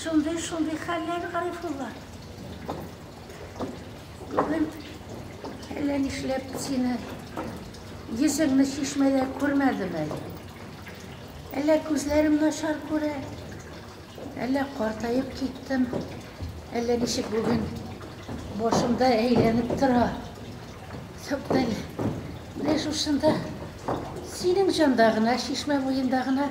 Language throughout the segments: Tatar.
Шундый, шундый хәлләр, Гарифулла. Бүген әллә нишләп сине йөзеңне чишмәдә күрмәдем әле. Әллә күзләрем начар күрә, әллә картаеп киттем, әллә ничек бүген башымда әйләнеп тора. Юктан, менә шушында синең җанда гына, чишмә буенда гына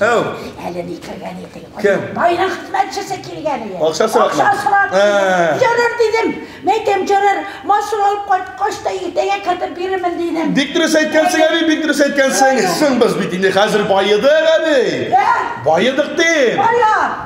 Тәү. Әле ни кергән идең? Кем? Байлык хезмәтчесе килгән иде. Акча сорап. Акча сорап. Җөрер дидем. Мәйтем җөрер. Машина алып кайткач та иртәгә кертеп бирермен дидем. Бик дөрес әйткәнсең, әби, бик дөрес әйткәнсең. Соң без бит инде хәзер баедык, әби. Байыдык дим. Бая.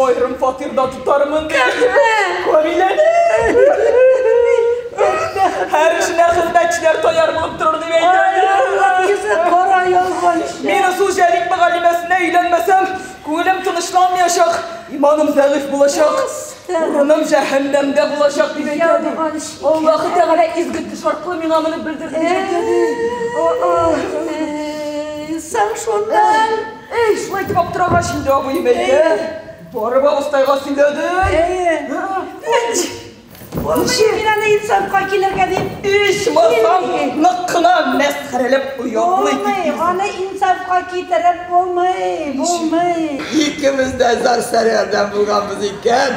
Аерым фатирда тотармын ди. Камиләне. Һәр эшенә хезмәтчеләр таяр булып торыр дип әйтә. Йөзе кара ялган. Мин ысул Җәлил мөгаллимәсенә өйләнмәсәм, күңелем тынычланмаячак, иманым зәгыйфь булачак, урыным җәһәннәмдә булачак дип әйтә, ди. Аллаһы Тәгалә изге төш аркылы миңа моны белдерде дип әйтә, ди. Соң шуннан Әй, шулай итеп аптырагач инде абыем әйтә. Барып абыстайга сөйләде. Әйе. Үч! Ничек? Мин аны инсанга килергә дип. Ичмасам, нык кына мәсхәрәләп ояклый. Булмый, аны инсанга китереп булмый, булмый. Икебез дә зар-сәргәрдән булганбыз икән.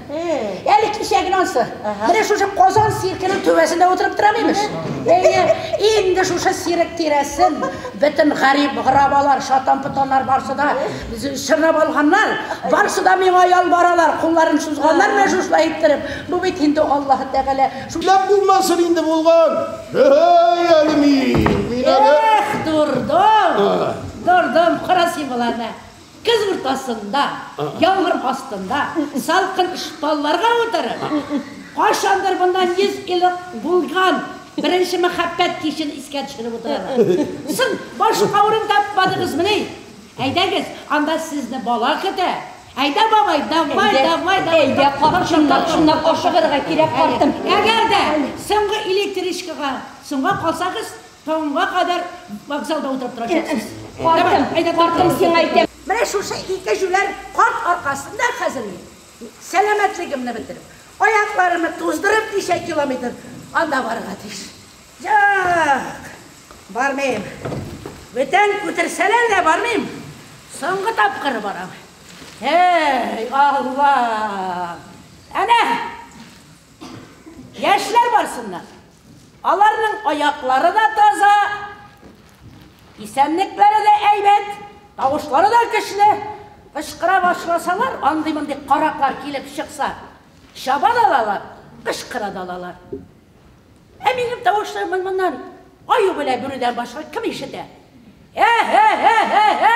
Әле кичәген ансы. Менә шушы Казан сиркенең түбәсендә утырып торам имеш. Әйе, инде шушы сирек тирәсен бөтен гарип грабалар, шатан-потаннар барсы да чорнап алганнар. Барсы да миңа ялбаралар, кулларын сузганнар менә шушылай иттереп. Бу бит инде Аллаһ Тәгалә шулап булмасын инде булган. Әй, әле мин, мин әле. Эх, дурдом. Дурдом, карасый буларны. Көз уртасында, яңгыр астында, салкын талларга утырып, кайчандыр моннан йөз ел элек булган беренче мәхәббәт кичен искә төшереп утыралар. Соң, башка урын тапмадыгызмыни? Әйдәгез, анда сезне бала көтә. Әйдә, бабай, давай, давай, давай. Әйдә, карт, чыннан, чыннан ашыгырга кирәк, картым. Әгәр дә соңгы электричкага соңга калсагыз, Таңга кадәр вокзалда утырып торачаксыз. Картым, картым, сиңа әйтәм. Менә шушы ике җүләр карт аркасында хәзер мин сәламәтлегемне бетереп, аякларымны туздырып ничә километр анда барырга тиеш. Юк, бармыйм. Бүтән күтерсәләр дә бармыйм. Соңгы тапкыр барам. Һей, Алла! Әнә! Яшьләр барсыннар. Аларның аяклары да таза, исәнлекләре дә әйбәт, тавышлары да көчле. Кычкыра башласалар, андый-мондый караклар килеп чыкса, чаба да алалар, кычкыра да алалар. Ә минем тавышларымны моннан аю белән бүрүдән башка кем ишетә? Ә-һә-һә-һә-һә!